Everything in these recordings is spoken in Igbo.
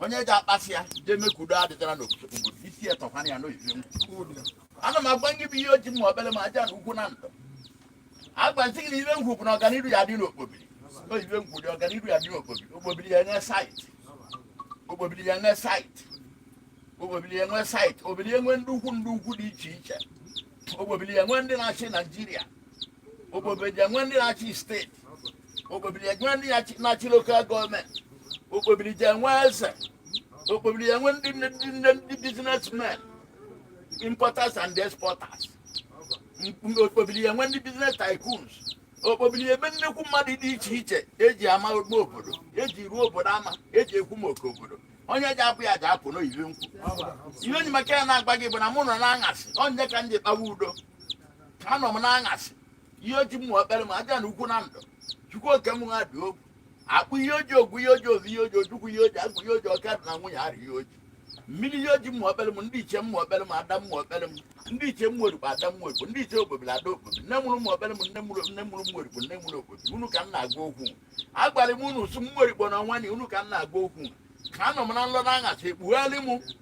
onye ji akpasị ya jee mee ka udo adịtara n'obodo isi ya tọkwana ya n'oyibe ngwu ana m agwa gị bụ iyi oji ụmụokpelem ajana ukwu na ndụ agbazi gị na ibe ngwu bụ na ọganihu ya dị n'okpobiri oyibe ngwu dị ọganihu ya dị n'okpobiri okpobiri ya enwe saịtị okpobiri ya enwe saịtị okpobiri ya enwe saịtị obiri enwe ndị ukwu ndị ukwu dị iche iche okpobiri ya enwe ndị na-achị naijiria okpobiri ya enwe ndị na-achị steeti okpobidi enwe ndị na-achị- na-achị lokal gọọmenti okpobiri ya enwe eze okpobiri ya enwe ndị nne ndị nne ndị businessmen importers and exporters Mkpu- okpobiri ya enwe ndị business tycoons okpobiri enwe nnekwu mmadụ dị iche iche eji ama ogbe obodo eji ruo obodo ama eji ekwu maka obodo onye ji apụ ya ji apụ n'oyibe ngwu ihe onye maka ya na-agwa gị bụ na mụ nọ na aṅasị onye ka m ji kpawa udo anọ m n'aṅasị iyi oji ụmụokpelem ajana ukwu na ndụ chukwu oke m ha dị okwu akpụ iyi oji ngwu iyi oji ozu iyi oji ojukwu iyi oji agwụ iyi oji ọka di na nwunye ara iyi oji mmiri iyi oji ụmụokpelem ndị ichie ụmụokpelem ada ụmụokpelem ndị ichie ụmụorikpo ada ụmụorikpo ndị ichie okpobiri ada okpobiri nne mụrụ ụmụokpelem nne mụrụ nne mụrụ ụmụorikpo nne mụrụ okpobiri unu ka m na-agwa okwu agwara m unu sụ ụmụorikpo na ọnwa na unu ka m na-agwa okwu ka anọ m n'ụlọ na aṅasị ekpugharị m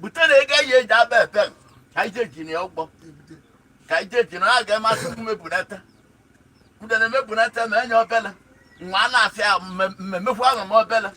bute na ego eji eji aba epe ka ije eji na ya ụgbọ ka ije eji na a ga-emasị m mebunata ude na emebunata ma enye obele nwa a na-asị ya mmemekwu ahụ m obele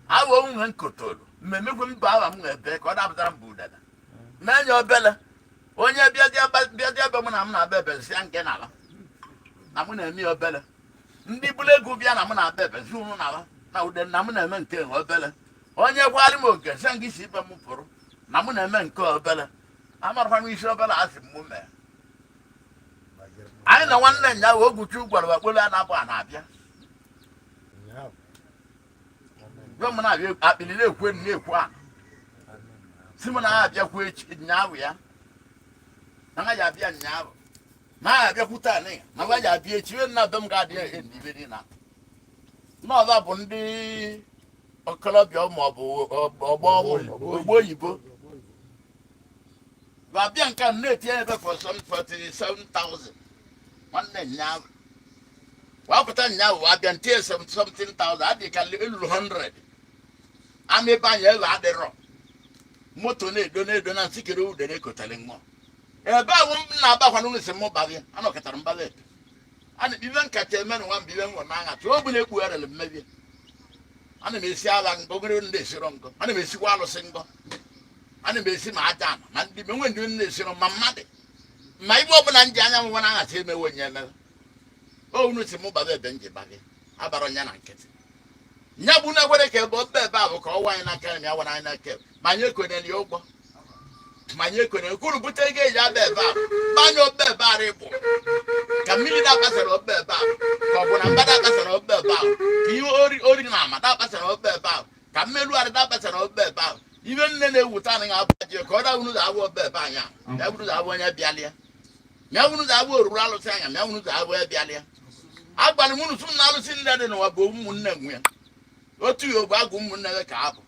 awo nwunye nkotoro mmemekwu mbụ ahụ m na-ebe ka ọ dapụtara mbụ udele ma enye obele onye bịazie ebe m na m na-aba ebe nsị nke n'ala na m na-eme ya obele ndị bụrụ ego bịa na m na-aba ebe nsị ụnụ n'ala na ude na m na-eme nke obele onye gwara m oke sị gị si be m pụrụ na mụ na-eme nke obere amarakwa m isi obere asị m mee anyị na nwanne nya wee ogwuchu gwara wakpolo a na-abụ a na-abịa gwe m na-abịa akpịrị na-ekwu enu na-ekwu a si m na-abịakwu echi nyaahụ ya na ha ya abịa nyaahụ na ha abịakwu taa na ya na ha ya abịa echi ihe nna be m ga-adị ya ihe na ibe niile na ọba bụ ndị okorobịa ma ọ bụ ọgbọ ogbo oyibo wa bịa nke a na-etinye ebe 47,000 nwanne nyaahụ wa pụta nyaahụ wa bịa tinye 17,000 adị ka eluru 100 ama be anyị ebe adịrọ moto na-edo na-edo na nsikere ude na-ekotara nwa ebe ahụ m na-abakwa n'ụlọ isi m baghị anọkọtara mbaghị ana m ibe nkata eme na nwa mgbe ibe nwa na-aṅa tụọ ọ bụla ekpugharịrị mmebie ana m esi ala ngọ ogere ndị esiro ngọ ana m esikwa alụsị ngọ ana m esi ma aja ama ma ndị menwe ndị ndị esiro ma mmadụ ma ibe ọbụla nji anya nwa na-aghata emewe onye emere o unu si mụ baba ebe nji bagị abara onye na nkịtị nya bụ na ekwere ka ebe ọba ebe a bụ ka ọ wa anyị n'aka ya wara anyị n'aka ebe ma anyị ekwenyere ya ụgwọ ma anyị kwere kwuru bute ego eji aba ebe a gbanye obe ebe a rịbụ ka mmiri na-akpasara obe ebe a ka ọ bụ na mba na-akpasara obe ebe a ka ihe ori ori na ama na-akpasara obe ebe a ka mmerụ arị na-akpasara obe ebe a ibe nne na-ewute anaghị abụ ji ka ọ dawuru ụzọ abụ obe ebe anya ya bụrụ ụzọ abụ onye bịalịa ya bụrụ ụzọ abụ oruru alụsị anya ya bụrụ ụzọ abụ onye bịalịa agwara m unu sị na alụsị niile dị n'ụwa bụ ụmụnne nwe ya otu ya ogbe agụ ụmụnne gị ka abụ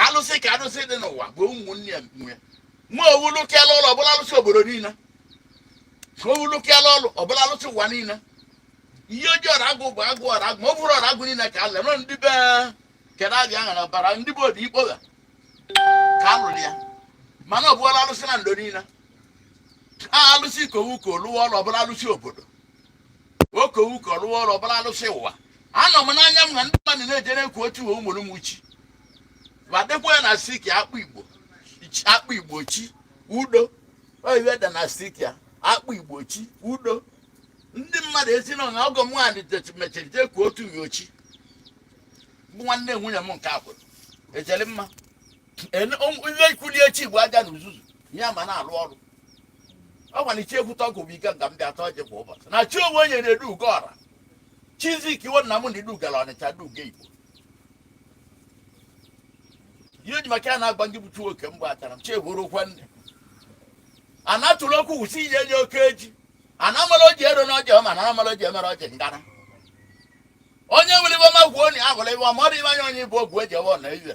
alụsị ka alụsị dị n'ụwa bụ ụmụnne ya nwe ma owulu kela ụlọ ọbụla alụsị obodo niile ma owulu kela ụlọ ọbụla alụsị ụwa niile ihe ojii ọra agụ bụ agụ ọra agụ ma ọ bụrụ ọra agụ niile ka ala nọ ndị be kere abịa aha na bara ndị be obi ikpogha ka alụrụ ya mana ọ bụla alụsị Nando niile a alụsị ka owu ka oluwa ụlọ ọbụla alụsị obodo okowuko rụọ ọrụ ọbụla alụsị ụwa anọ m n'anya m na ndị mmadụ na-ejere ekwu otu uwe ụmụrụ m uchi ma dịkwa ya na siki akpụ igbo chi- akpụ igbo chi udo oyiwe da na siki ya akpụ igbo chi udo ndị mmadụ esi na ọha ọgọ m nwaanyị det- mechiri jee kwuo otu uwe ochi bụ nwanne nwunye m nke akwụrụ ejere mma Ene- ụmụ- ihe ikwuli echi igbo aja na uzuzu ya ma na-alụ ọrụ ọ gwara iche ekwute ọgụ bụ ike nga m dị atọ ọjị kwa ụbọchị na chi onwe onye na-edu ugo ọra chizik iwe nna m ndị dugara ọnịcha duga igbo ihe ji maka ya na-agba ndị bụ chuo oke mgbe achara m chehụrụ okwe nne a na-atụrụ okwu wụsị inye nye oke eji a na-amara oji ero na ọjị ọma na amara oji emere ọjị ngana onye nwere ihe ọma gwuo onye ahụrụ ihe ọma ọ dị iwe anya onye bụ ogwu eji ewe ọna iwe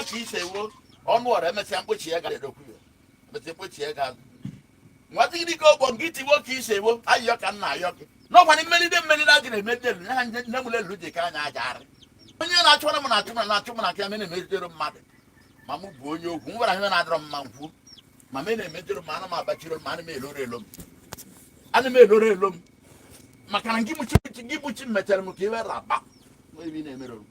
otu ise wo ọnụ ọrụ emesịa mkpochi ya gara edokwu ya emesịa mkpochi ya ga nwata gị dịka ogbo nke itiwo ka ise wo ayịyọ ka nna ayọ gị n'ọkwa na mmelide mmelide a gara emede elu ha nne m lelu ji ka anya aja arị onye na-achụwara m na-achụ m na-achụ m na aka me na-emejidere mmadụ ma mụ bụ onye okwu m gwara ihe na-adịrọ mma nkwu ma me na-emejidere m ana m abachiri m ana m eloro elo m ana m eloro elo m maka na gị bụ chi gị bụ chi mechara m ka iwe raba ebe ị na-emere m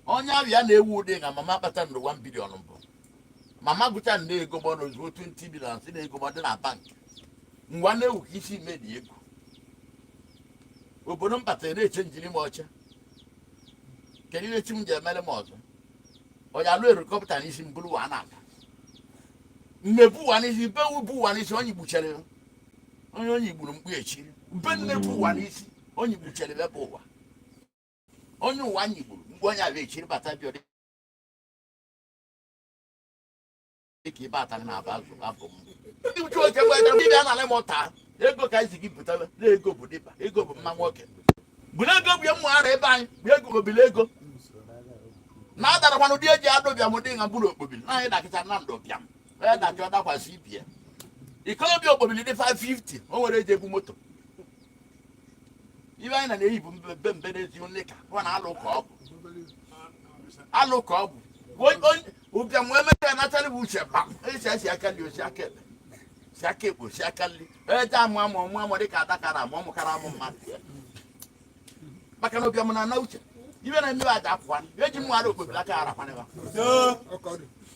onye ahụ ya na-ewu ụdị na mama kpata ndụ 1 bilion mbụ mama gụcha nde ego ma ọ na ozugbo 20 bilion si na ego ma ọ dị na bank ngwa na-ewu ka isi medi ego obodo m batara na-eche njiri m ọcha kedu ihe chi m ji emere m ọzọ onye alụ erikọpụta n'isi m bụrụ wa na-aga m ebu ụwa n'isi be ebu ụwa n'isi onye gbuchere ya onye onye gburu mkpu echi be nne bụ ụwa n'isi onye gbuchere ebe ụwa onye ụwa nyigburu mgbe onye ala echiri bata bịa dị ka ibe atara na aba azụ abụ m ndị uche oke bụ ebe ndị anara m ụta ego ka anyị si gị butara na ego bụ dịba ego bụ mma nwoke bụrụ ego bụ ya mma ara ebe anyị bụ ego obili ego na adarakwana ụdị eji ada ụbịam dị na mkpụrụ okpobili na anyị dakịta na ndụ ụbịam onye dachọ dakwasị ibie ikolobịa okpobili dị 550 o nwere eji ebu moto ibe anyị na na-eyi bụ mbe mbe n'ezi onye ka ọ na-alụ ka ọ bụ alụ ka ọ bụ ụbịam wee meta ya natara bụ uche kpam esi esi aka nri o si aka ekpe si aka ekpe o si aka nri eje amụ amụ ọmụ amụ dịka adakara amụ ọmụ kara amụ mmadụ maka na ụbịam na-ana uche ibe na-emewe aja apụwa eji mmụ ara okpobili aka ara kwanịba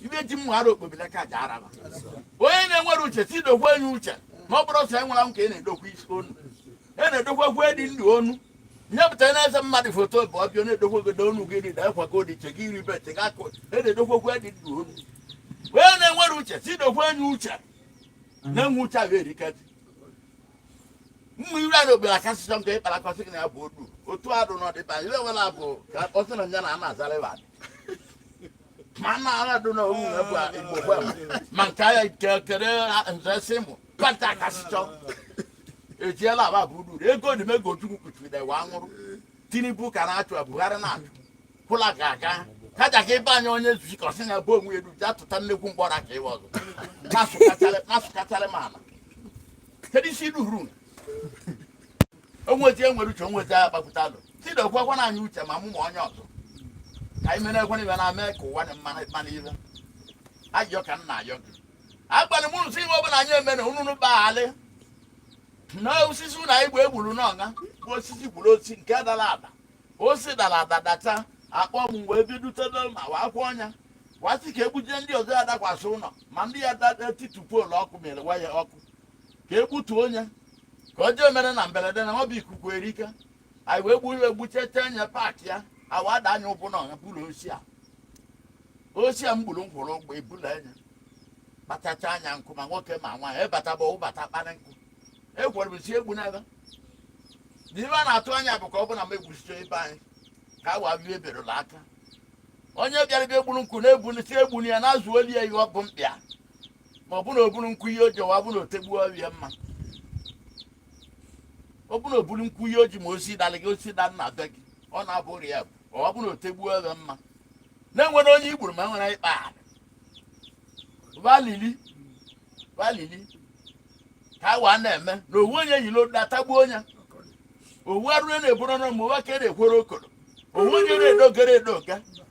ndị ji mma ara okpobili ka ji araba onye na-enwere uche si dokwa enye uche ma ọ bụrụ ọsọ enwela m ka ị na-edokwa isi onu ị na-edokwa gwu dị ndụ onu nyepụta na-eze mmadụ foto bụ ọbịa na-edokwa godo onu gị dị dakwa ka odiche gị iri bete gị akụ ị na-edokwa gwu dị ndụ onu onye na-enwere uche si dokwa enye uche na-enwe uche ahụ erika ji mma iri a n'obodo akasịsọ nke ịkpara akọsị gị na ya bụ odu otu arụ n'ọdịba ire wela bụ ka ọsị na nya na a na-azara ịwa ma na ala dị na owu na bua igbo bua ma ma nke aya nke kere nze si mụ pata akasịchọ ejiela aba bụ uru ego dị m ego chukwu kuchiri na wa nwụrụ tinubu ka na-achụ a, buhari na-achụ kwụla ga aga kaja ka ịba anya onye zuzi ka ọsị na bụ onwe elu ji atụta nnekwu mgbọrọ aka ịwa ọzọ masụkacharị masụkacharị ma ala kedu isi iru huru onwezi enwere uche onwezi agha kpapụta alụ tidokwa na anyị uche ma mụ ma onye ọzọ ka anyị mere ekwe n'ibe na-eme ka ụwa dị mma mma n'ibe ayọ ka m na-ayọ gị agbalị mụrụ si ihe ọbụla anyị emere unu unu gbaghalị na osisi ụlọ anyị bụ egburu n'ọga bụ osisi gburu osisi nke dara ada o si dara ada dachaa kpọm wee bidutebe ma wa akwụ ọnya wa sị ka egbujie ndị ọzọ ya dakwasị ụlọ ma ndị ya dada titupu poolu ọkụ mere waya ọkụ ka e gbutuo onye ka ọ jee mere na mberede na ọ bụ ikuku erika anyị wee gbuo iwe gbuchete anya paakị ya awa ada anya ụkwụ na ọha bụrụ osi a osi a m gburu m kwụrụ ụgbọ ebula anya kpatacha anya nkụ ma nwoke ma nwaanyị ebataba ụbata kpara nkụ ekwere m si egbu n'ebe na ibe a na-atụ anya bụ ka ọ bụ na m egbusicha ibe anyị ka awa bie eberụla aka onye bịara bịa egburu nkụ na-egbulite egburu ya n'azụ oli ya ihe ọ bụ mkpịa ma ọ bụ na o buru nkwu ihe o ji wa bụ na o tegbuo ọrịa mma ọ bụ na o buru nkwu ihe o ji ma osi dalị gị osi da na be gị ọ na-abụ ụrị ya bụ ọ bụ na o tegbuo ọrịa mma na e nwere onye i gburu ma enwere ịkpa ala valili valili ka a waa na-eme na owu onye yiri odu atagbuo onye owu arụrụ na-eburu ọnụ ma ụwa ka e na-ekwere okoro owu onye na-edogere edoga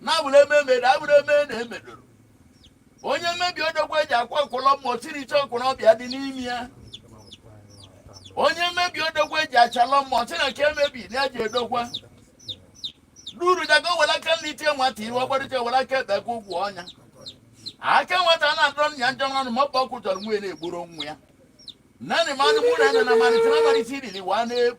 na abụrụ eme emere abụrụ eme na emedoro onye mmebi odogwu eji akwa ọkụlọ mmụọ siri iche ọkụrụ ọbịa dị n'ime ya onye mmebi odogwu eji achalọ mmụọ si na nke emebi na eji edokwa duru dago were aka nri tie nwata ihe ọgbarịta were aka ekpe ka ụgwọ ọnya aka nwata a na-adọrọ nna ya njọ n'ọnụ ma ọ bụ ọkụ chọrọ nwunye na-egboro nwa ya nanị mmadụ mụ na ya na na malite na malite iriri wa na-ebu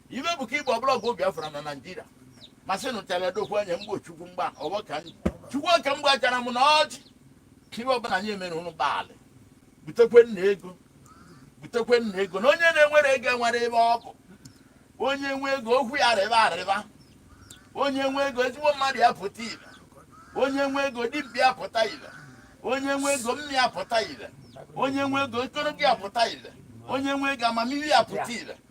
ibe bụ ka igbo ọbụla ọgụ biafra na naijiria masị nụchara dokwu anya mgbe chukwu mgba ọgbọ ka ndị chukwu oke mgba chara m na ọjị ibe ọbụla anyị emere ụnụ gbalị butekwe nna ego butekwe nna ego na onye na-enwero ego enwero ebe ọ bụ onye nwe ego okwu ya rịba arịba onye nwe ego ezigbo mmadụ apụta ile onye nwe ego dibịa apụta ile onye nwe ego mmiri apụta ile onye nwe ego ekoro gị apụta ile onye nwe ego amamihe apụta ile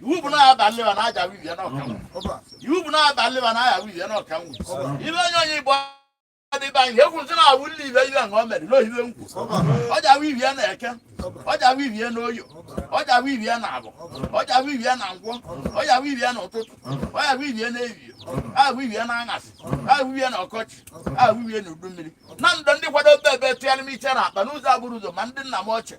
iwu bụ na aba nleba na aja wivi ya na ọka iwu bụ na aba nleba na aja wivi ya na ọka nwu ibe onye onye igbo adịba ihe egwu nsị na-awụ nle ibe ibe nke o mere n'ohibe nkwu ọja wivi ya na eke ọja wivi ya na oye ọja wivi ya na afọ ọja wivi ya na nkwọ ọja wivi ya na ụtụtụ ọja wivi ya na ehihie aha wivi ya na aṅasị aha wivi ya na ọkọchị aha wivi ya na udu mmiri na ndụ ndị kwado ebe ebe tụgharị m iche na akpa n'ụzọ abụrụ ụzọ ma ndị nna m ochie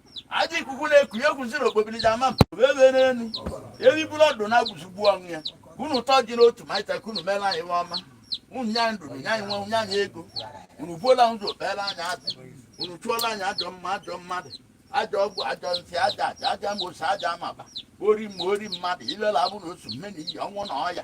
ajọ ikuku na-eku egwu ziri okpobiriji ama m wee wee n'elu eriburu ọdụ na agwụzigbu onwe ya unu ụtọ dị n'otu ma ịta ka unu meela anyị ihe ọma unu nye anyị ndụ nye anyị nwa nye anyị ego unu buola ụzọ kpeela anyị azụ unu chụọla anyị ajọ mmụọ ajọ mmadụ ajọ ọgwụ ajọ nsị aja aja ajọ amosu aja amaba ori mmụọ ori mmadụ ilela abụ na otu mmeni iyi ọnwụ na ọya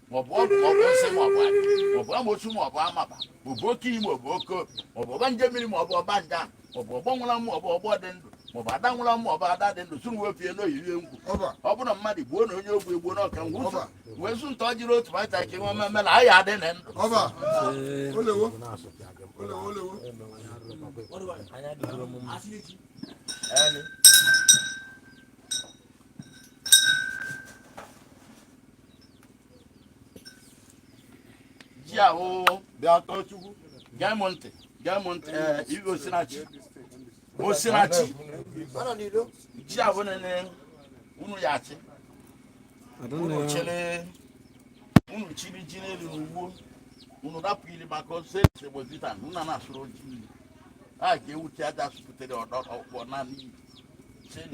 maọbụ ọgwụ maọbụ nsị maọbụ adị maọbụ amosu maọbụ amaba maọbụ oke iyi maọbụ oke obi maọbụ ọgbanje mmiri maọbụ ọgbanje ahụ maọbụ ọgbọ nwụrụ anwụ maọbụ ọgbọ dị ndụ maọbụ ada nwụrụ anwụ maọbụ ada dị ndụ sụrụ wepie n'oyirie ngwu ọba ọ bụrụ mmadụ gbuo na onye ogbu egbuo n'ọka ngwu ụzọ Ọba. wee zụ nta ọ jiri otu baịta ka nwe mmemme na anyị adị na ndụ ọba olewo olewo olewo Elu. ji ahụ bịa tọọ Chukwu gee m ntị gee m ntị ee Igwe osinachi osinachi ji ahụ nene unu ya achị unu chere unu chiri ji n'elu n'ugbo unu rapụ ili maka ọsọ ese gbozita nna na-asụrụ ji ili a ga-ewuchi aja asụpụtere ọdọ ọkpọ naanị cheni